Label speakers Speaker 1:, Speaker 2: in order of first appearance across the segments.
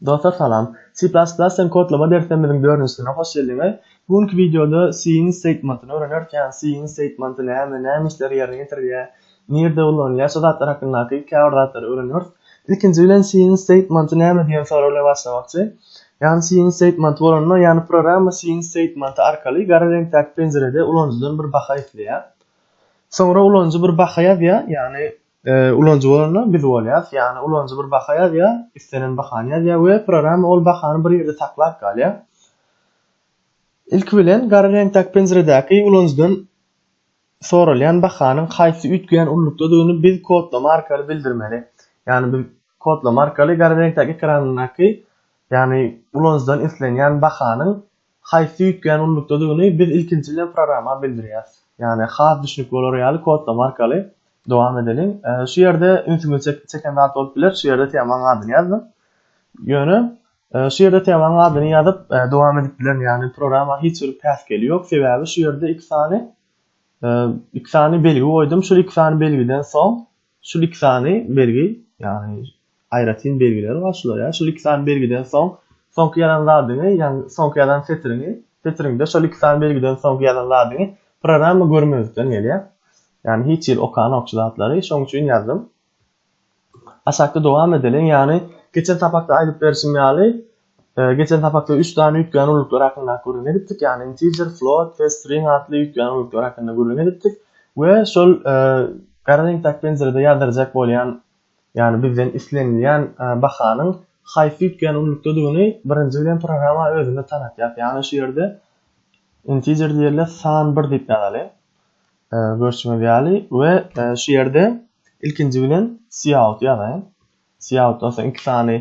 Speaker 1: Dostlar salam. C++ den kodlama derslerimiziň dördünjisine hoş geldiňiz. Bu günki wideoda C-iň statementyny öwrenerkän, C-iň statementy näme, näme işleri ýerine ýetirýär, nirde ulanylýar şu zatlar hakyndaky käbir zatlary öwrenýäris. Ilkinji bilen C-iň statementy näme diýen sorag bilen başlamakçy. Ýagny C-iň statementy bolanda, ýagny programma C-iň statementy arkaly gara reňkdäki penjirede ulanyjydan bir baha isleýär. Soňra ulanyjy bir baha ýazýar, ýagny Ulanyjy bolanda biz bolýarys, ýagny ulanyjy bir baha ýazýar, islenen bahany ýazýar we programma ol bahany bir ýerde saklap galýar. Ilki bilen gara reňkdäki penjiredäki ulanyjydan soralýan bahanyň haýsy üýtgeýän ululykdadygyny biz kodlama arkaly bildirmeli. Ýagny biz kodlama arkaly gara reňkdäki ekranyndaky, ýagny ulanyjydan islenýän bahanyň haýsy üýtgän ululykdadygyny biz ilkinji bilen programa bildirýäs. Ýagny has düşnükli bolar ýaly kodlama arkaly dowam edeliň. Şu ýerde ünsüňizi çeken zat bolup biler, şu ýerde temanyň adyny ýazdym. Ýöne şu ýerde temanyň adyny ýazyp dowam edip bilerin, ýagny programa hiç bir päsgeli ýok, sebäbi şu ýerde iki sany iki sany belgi goýdum, şul iki sany belgiden soň Şu liksany belgi, ýagny aýratyn belgileri bar şular ýa. Şu liksany belgiden soň soňky ýazan zadyňy, ýagny soňky ýazan setiriňi, setiriňde şo liksany belgiden soňky ýazan zadyňy programma görmezlikden gelýär. Ýagny hiç ýeri okanok şu zatlary, şoň üçin ýazdym. Aşakda dowam edeliň, ýagny geçen sapakda aýdyp berşim ýaly, Geçen sapakda üç sany üýtgän ulluklar hakynda gürrüň edipdik, ýagny integer, float we string atly üýtgän ulluklar hakynda gürrüň edipdik we şol gara reňkdäki penjirede ýazdyrjak bolýan, ýagny bizden islenilýän bahanyň haýsy üýtgän ullukdadygyny birinji bilen programa özüne tanatýar. Ýagny şu ýerde integer diýeli san bir diýip ýazaly. Görşüňiz ýaly we şu ýerde ilkinji bilen cout ýazaýyn. Xiaoda soň iki sany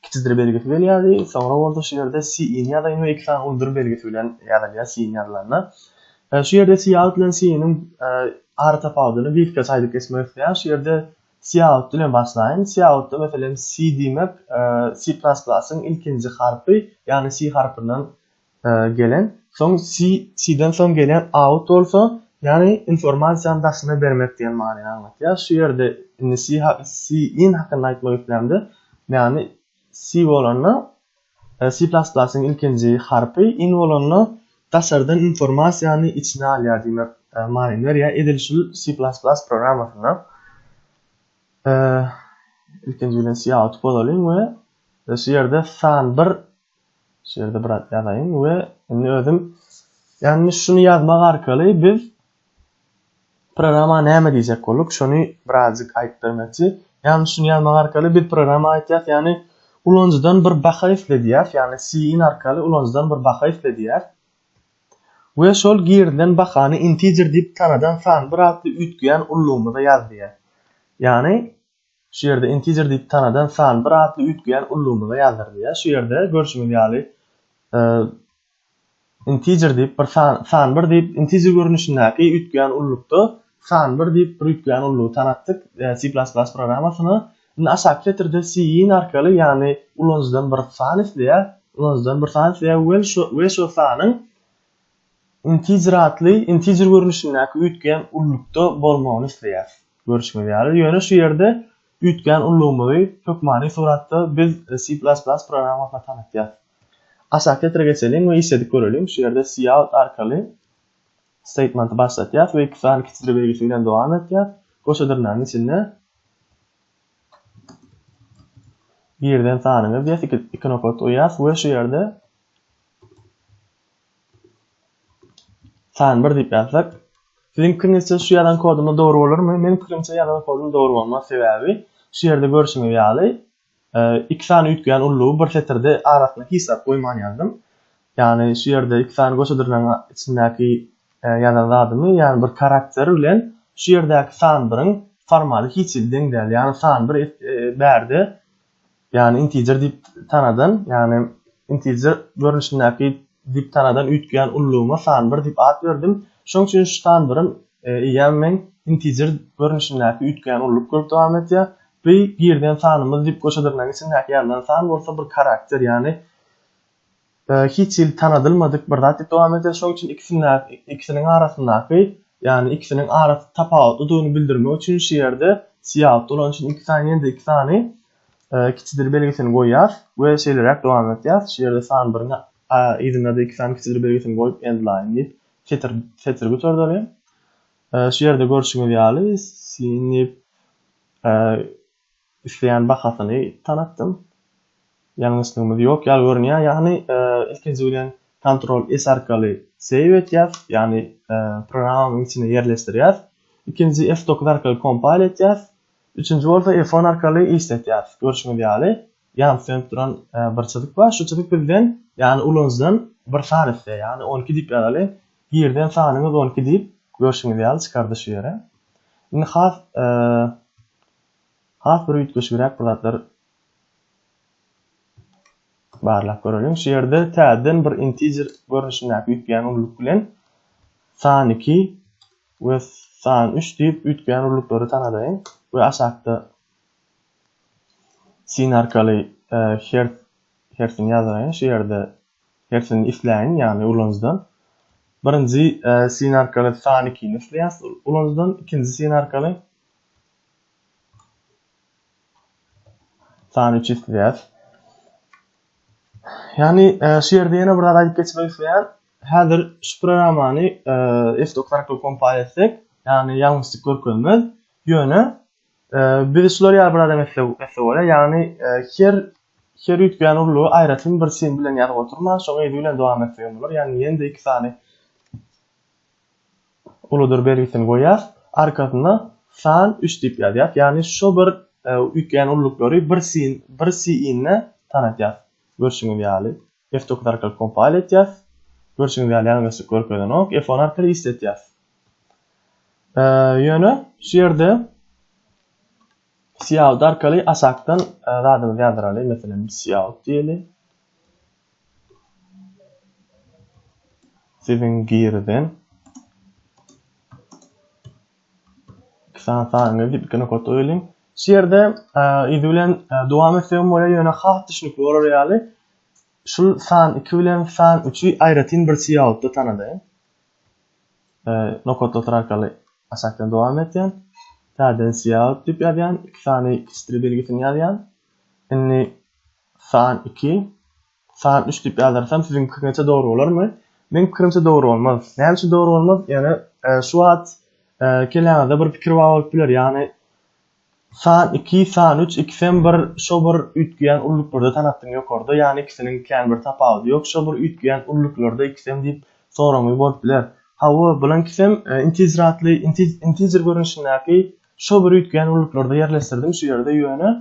Speaker 1: kiçidir belgisi gelýärdi, soňra bolsa şu ýerde Xiin ýazaýyn we iki sany uludyr belgisi bilen ýazylýar Xiin ýazylanda. Şu ýerde Xiaod bilen Xiiniň ara tapawudyny gysgaça aýdyp geçmek isleýän. Şu ýerde Xiaod bilen başlaýyn. Xiaoda meselem Xi diýmek C++-yň ilkinji harpy, ýagny Xi harpyndan gelen, soň si, siden soň gelýän out bolsa, ýagny informasiýany daşyna bermek diýen manyny aňladýar. Şu ýerde indi si, si in hakynda aýtmak islämde, ýagny si bolanda si plas plasyň ilkinji harpy, in bolanda daşardan informasiýany içine alýar diýmek manyny berýär. Edil şu si plas plas programmasynda ilkinji bilen si out bozalyň we şu ýerde san bir Şu ýerde bir zat ýazaýyn we indi özüm ýagny şuny ýazmak arkaly biz programma näme diýjek bolduk, şony birazjyk aýdyp bermekçi. Ýagny şuny ýazmak arkaly biz programma aýtýas, ýagny ulanyjydan bir baka isle diýýäs, ýagny cin arkaly ulanyjydan bir baka isle diýýäs. We şol girilen bakany integer diýip tanadan san bir atly üýtgeýän ullugymyza ýaz diýýäs. Ýagny Şu ýerde integer diýip tanadan san bir atly üýtgeýän ullumyza ýazdyrylýar. Şu ýerde görşüňiz ýaly integer diýip bir san san bir diýip integer görnüşindäki üýtgeýän ullukda san bir diýip bir üýtgeýän ullugy tanatdyk C++ programmasyna. Indi aşaky setirde cin arkaly ýagny ulanyjydan bir san isleýär, ulanyjydan bir san isleýär we şu we şu sanyň Integer atly integer görnüşindäki üýtgän ullukda bolmagyny isleýäris. Görşüňiz ýaly, ýöne şu ýerde üýtgän ullugymyzy hökmany suratda biz C++ programmasyna tanatýarys. Aşaky setre geçeliň we işledip göreliň. Şu ýerde cout arkaly statementy başlatýarys we iki sany kiçijir belgisi bilen dowam etýär. Goşa dyrnagyň içinde birden sanyňyz diýýäs, iki nokat goýýas we şu ýerde San bir diýip ýazsak. Siziň pikiňizçe şu ýazan kodumda dogry bolarmy? Meniň pikirimçe ýazan kodum dogry bolmaz, sebäbi şu ýerde görşüňiz ýaly iki sany üýtgeýän ullugy bir setirde arasyna hiç zat goýman ýazdym. Ýagny şu ýerde iki sany goşa dyrnagyň içindäki ýazan zadymy, ýagny bir karakter bilen şu ýerdäki san biriň formaly hiç hili deň däl. Ýagny san bir bärde ýagny integer diýip tanadan, ýagny integer görnüşindäki diýip tanadan üýtgeýän ullugyma san bir diýip at berdim. Şonuň üçin şu san birim eýýäm meň integer görnüşindäki üýtgeýän ulluk bolup dowam edýär. Bu girilen sanymyz diýip goşa dyrnagyň içindäki ýazylan san bolsa bir karakter, ýagny, Hiç hili tanadylmadyk bir zat diýip dowam edýär. Şonuň üçin ikisindäki, ikisiniň arasyndaky, ýagny ikisiniň arasy tapawutlydygyny bildirmek üçin şu ýerde syýahatda bolan üçin iki sany ýene-de iki sany kiçidir belgisini goýýas we şeýleräk dowam etýär. Şu ýerde san biriň yzyna-da iki sany kiçidir belgisini goýup endline diýip setir setir göterdeli. Şu ýerde görşüňiz ýaly sinip düşleýän bahasyny tanatdym. Ýalňyşlygymyz ýok ýaly görünýär. Ýagny ilkinji bilen Ctrl S arkaly save etýäs, ýagny programmamyň içine ýerleşdirýäs. Ikinji F9 arkaly compile etýäs. Üçünji bolsa F10 arkaly işletýäs. Görşüňiz ýaly. Ýan sönüp duran bir çyzyk bar. Şu çyzyk bizden, ýagny ulanyjydan bir san isleýär. Ýagny on iki diýip ýazaly. Girden sanyňyz on iki diýip, görşüňiz ýaly çykardy şu ýere. Indi has has bir üýtgeşigräk bir zatlar barlap göreliň. Şu ýerde täzeden bir integer görnüşindäki üýtgeýän ulylyk bilen san iki we san üç diýip üýtgeýän ulylyklary tanadaýyn we aşakda Syn arkaly her hersini ýazyraýyn şu ýerde hersini isleýin ýagny ulanyjydan birinji syn arkaly san ikini isleýäs ulanyjydan ikinji syn arkaly san üçi isleýäs ýagny şu ýerde ýene bir zat aýdyp geçmek isleýän häzir şu programmany f dokuz arkaly kompal etsek ýagny ýalňyşlyk görkezmez ýöne Biz şular ýaly bir adam etse bolýar, ýagny her her üýtgän urlugy aýratyn bir sim bilen ýazyp oturman, şoňa yzy bilen dowam etsek hem bolar. Ýagny ýene-de iki sany uludyr belgisini goýýas, arkasyna san üç diýip ýazýas. Ýagny şu bir üýtgän urluklary bir sim bir siýne tanatýas. Görşüňiz ýaly. F-dokuz arkaly kompile etýäs. Görşüňiz ýaly ýaňy geçdik görkezenok. F-on arkaly işletýäs. Ýöne şu ýerde cout arkaly aşakdan zadymyzy ýazdyraly. Meselem cout diýeli. Siziň girden san sanyny diýip iki nokat goýulyň. Şu ýerde yzy bilen dowam etsem bolýar, ýöne has düşnükli bolar ýaly Şul san iki bilen san üçi aýratyn bir siýaotda tanadaýyn. Nokatly otar arkaly aşakdan dowam etýän. Täzeden siýaot diýip ýazýan. Iki sany kiçdir belgisini ýazýan. Indi san iki, san üç diýip ýazdyrsam siziň pikiriňizçe dogry bolarmy? Meň pikirimçe dogry bolmaz. Näme üçin dogry bolmaz? Ýöne şu wagt kelläňizde bir pikir bar bolup biler. Ýagny San iki, san üç, ikisem bir, şo bir üýtgeýän ulluklarda tanatdyň ýokarda, ýany ikisiniň kän bir tapawudy ýok, şo bir üýtgeýän ulluklarda ikisem diýip soraňyz bolup biler. Hawa, bulaňkisem intizratly, intiz, integer görnüşindäki, şo bir üýtgeýän ulluklarda ýerleşdirdim şu ýerde, ýöne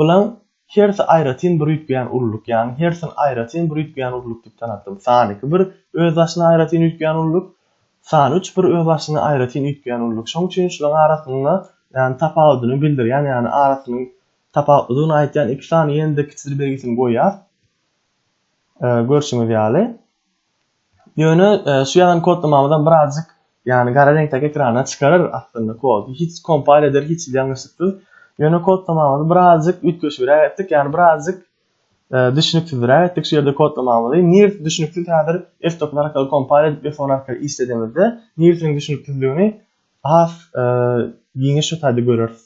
Speaker 1: bulaň Hersi aýratyn bir üýtgeýän ululyk, ýagny hersini aýratyn bir üýtgeýän ululyk diýip tanatdym. San iki bir özbaşyna aýratyn üýtgeýän ululyk, san üç bir özbaşyna aýratyn üýtgeýän ululyk. Şoň üçin şularyň arasynda, ýagny tapawudyny bildirýän, ýagny arasynyň tapawutlydygyny aýtýan iki sany ýene-de kiçidir belgisini goýýas. Görşüňiz ýaly. Ýöne şu ýazan kodlamamyzam birazjyk ýagny gara reňkdäki ekrana çykarar aslynda kody hiç kompal eder hiç hili ýalňyşlyksyz. Ýöne kodlamamyzy birazjyk üýtgeşigräk etdik ýagny birazjyk düşüniksizräk etdik şu ýerde kodlamamyzy. Nirsi düşüniksiz häzir F9 arkaly kompal edip F10 arkaly işledemizde nirsiniň düşüniksizligini has giňiş şu taýda göreris.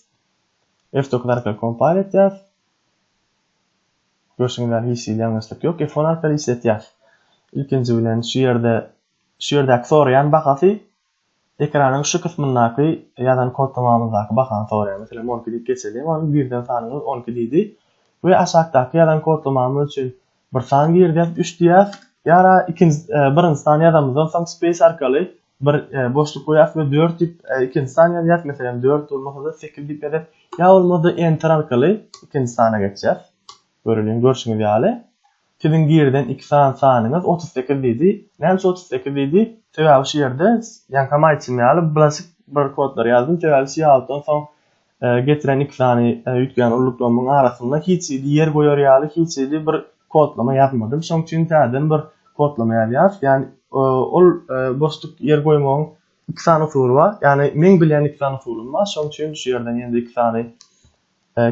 Speaker 1: F9 arkaly kompal etýäs. Görşüňiz ýaly hiç hili ýalňyşlyk ýok. F-on arkaly işletýäs. Ilkinji bilen şu ýerde şu ýerdäki soraýan bahasy ekranyň şu kysmyndaky ýazan kodtamamyzdaky bahany soraýar. Meselem on iki diýip geçeliň. Ol birden sanyňyz on iki diýdi we aşakdaky ýazan kodtamamyz üçin bir san girýär üç diýýäs. Ýara ikinji birinji sany ýazanymyzdan soň space arkaly bir boşluk goýas we dört diýip ikinji san ýazýas meselem dört bolmasada sekiz diýip ýazýas ýa bolmasa enter arkaly ikinji sana geçýäs göreliň görşüňiz ýaly siziň girden iki san sanyňyz otuz sekiz diýdi näme üçin otuz sekiz diýdi sebäbi şu ýerde ýaňkam aýtşym ýaly bulaşyk bir kodlary ýazdym sebäbi şu ýalykdan soň getiren iki sany üýtgän ulluklamyň arasynda hiç hili ýer goýar ýaly hiç hili bir kodlama ýazmadym. Şoň üçin täzeden bir kodlama ýazýarys. Ýagny ol boşluk ýer goýmagyň iki sany usuly bar. Ýagny meň bilýän iki sany usulym bar. Şoň üçin şu ýerden ýene-de iki sany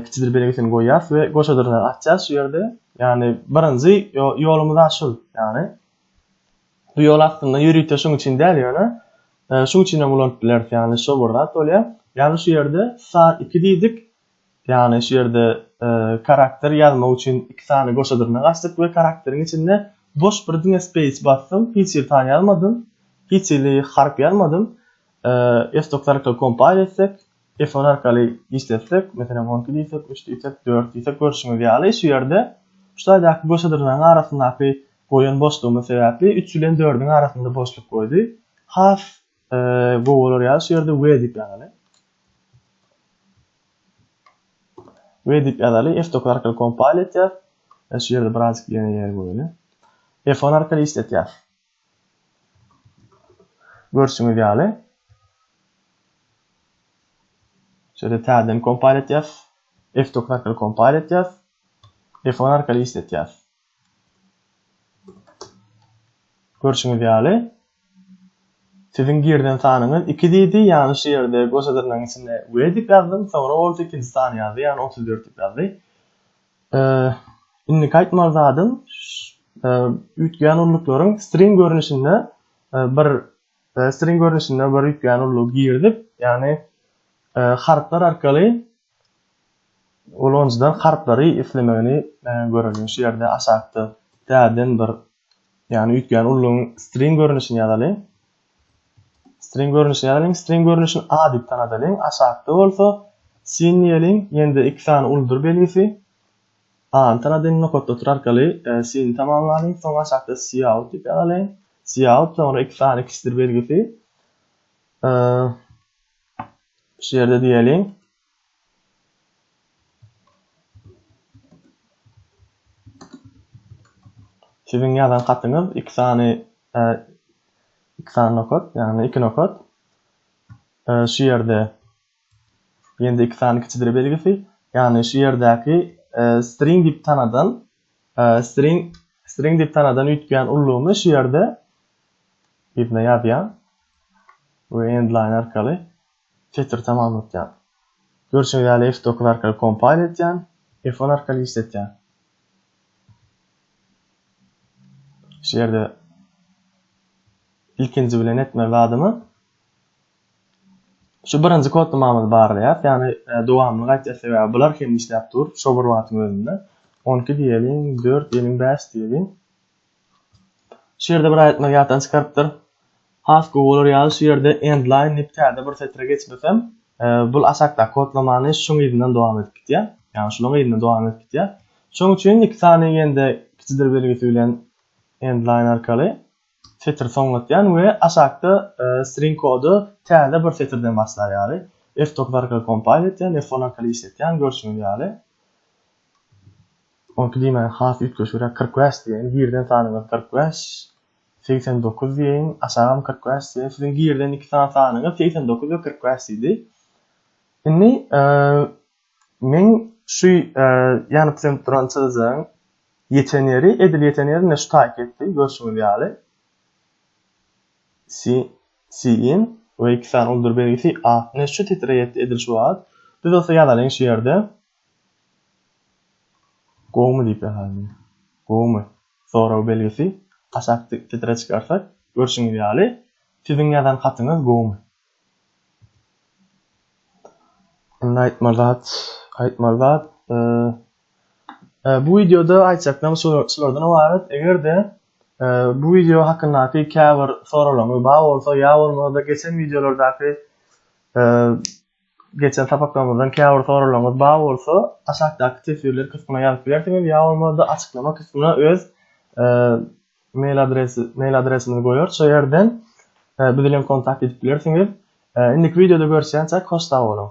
Speaker 1: kiçidir belgisini goýýarys we goşa dyrnagy açýarys şu ýerde. Ýagny birinji ýolumyz aşul. Ýagny Bu ýol aslynda ýörite şuň üçin däl, ýöne şuň üçin hem ulanyp bileris, ýagny şo bir zat bolýar. Ýagny şu ýerde san iki diýdik, ýagny şu ýerde karakter ýazmak üçin iki sany goşa dyrnak açdyk we karakteriň içinde boş bir diňe space basdym, hiç hili san ýazmadym, hiç hili harp ýazmadym. F doksan iki kompile etsek, Telefon arkaly işletsek, meselem, on iki diýsek, üç diýsek, dört diýsek, görşüňiz ýaly, şu ýerde şu taýdaky göçedyrnagyň arasyndaky goýan boşlugymyz sebäpli üç bilen dördüň arasynda boşluk goýdy. Has gowy bolar ýaly, şu ýerde we diýip ýazaly. We diýip ýazaly. F9 arkaly kompile etýär. Şu ýerde birazjyk ýene ýer goýaly. F10 arkaly işletýär. Görşüňiz ýaly, şeýle täzeden kompal etýäs. F9 arkaly kompal etýäs. F10 arkaly işletýäs. Görşüňiz ýaly, siziň girden sanyňyz 2 diýdi, ýagny şu ýerde goşa dyrnagyň içinde we diýip ýazdym, soňra bolsa ikinji sany ýazdy, ýagny 34 diýip ýazdy. Indiki aýtmaly zadym üýtgeýän ulluklaryn string görnüşinde bir string görnüşinde bir üýtgeýän ullugy girdip, ýagny harplar arkaly ulanyjydan harplary islemegini göreliň. Şu ýerde aşakda täzeden bir Ýagny üýtgän ullugyň string görnüşini ýazalyň. String görnüşini ýazalyň. String görnüşini A diýip tanadalyň. Aşakda bolsa sin diýeliň. Ýene-de iki sany uldur belgisi. A-ny tanadyň. Nokatda otur arkaly e, sin tamamlalyň. Soň aşakda cout diýip ýazalyň. Cout soňra iki sany kiçdir belgisi. E, şu ýerde diýeliň. Siziň ýazan hatyňyz iki sany iki sany nokat, ýagny iki nokat. Şu ýerde ýende iki sany kiçidire belgisi, ýagny şu ýerdäki string diýip tanadan string string diýip tanadan üýtgän ullugyny şu ýerde ýerine ýazýan we endline arkaly Twitter tamam ötýän. Görşeý ýaly F dokuz arkaly kompile etýän, F on arkaly işletýän. Şu ýerde ilkinji bilen etmeli zadymy? Şu birinji kodlamamyzy barlaýas, ýagny e, dowamyny gaýtýas sebäbi bular hem işläp dur, şo bir wagtyň özünde. 12 diýeliň, 4 diýeliň, 5 diýeliň. Şu ýerde bir aýtmagy ýatdan çykarypdyr. Has gowy bolar ýaly şu ýerde endline dip täze bir setre geçmesem, bul aşakdaky kodlamany şuň yzyndan dowam edip gitýär. Ýagny şulaň yzyndan dowam edip gitýär. Şoň üçin iki sany ýende kiçidir belgisi bilen endline arkaly setri soňlatýan we aşakda string kody täze bir setirden başlar ýaly F dokuz arkaly kompayl etýän, F on arkaly işletýän görşüňiz ýaly. Oňki diýmäge has üýtgeşigräk kyrk bäş diýeýin, girden sanyňyz kyrk bäş, segsen dokuz diýeýin, aşagam kyrk bäş diýeýin, siziň girden iki sany sanyňyz segsen dokuz we kyrk bäş diýdi. Indi men şu ýanyp sönüp duran çyzyjyň ýeten ýeri, edil ýeten ýeri ine şu taýyk etdi, görşüňiz ýaly. Si, siýin we iki sany uldür belgisi, a, ine şu titre ýetdi edil şu wagt. Biz bolsa ýazalyň şu ýerde. Gowumy diýip ýazaýyn. Gowumy? Sorag belgisi aşak setre çykarsa, görşüňiz ýaly, siziň ýazan hatyňyz gowumy? Indi aýtmaly zat, aýtmaly zat, e, bu wideoda aýtjaklarym şulardan ybarat. Eger-de e, bu wideo hakyndaky käbir soraglaryňyz bar bolsa, ýa bolmasa-da geçen wideolardaky e, Geçen sapaklarymyzdan käbir soraglaryňyz bar bolsa, aşakdaky teswirler kysmyna ýazyp bilersiňiz ýa bolmanda açyklama kysmyna öz mail adresi mail adresimizi goýarys şo ýerden bizi bilen kontakt edip bilersiňiz. Indiki wideoda görüşýänçäk hoş sag boluň.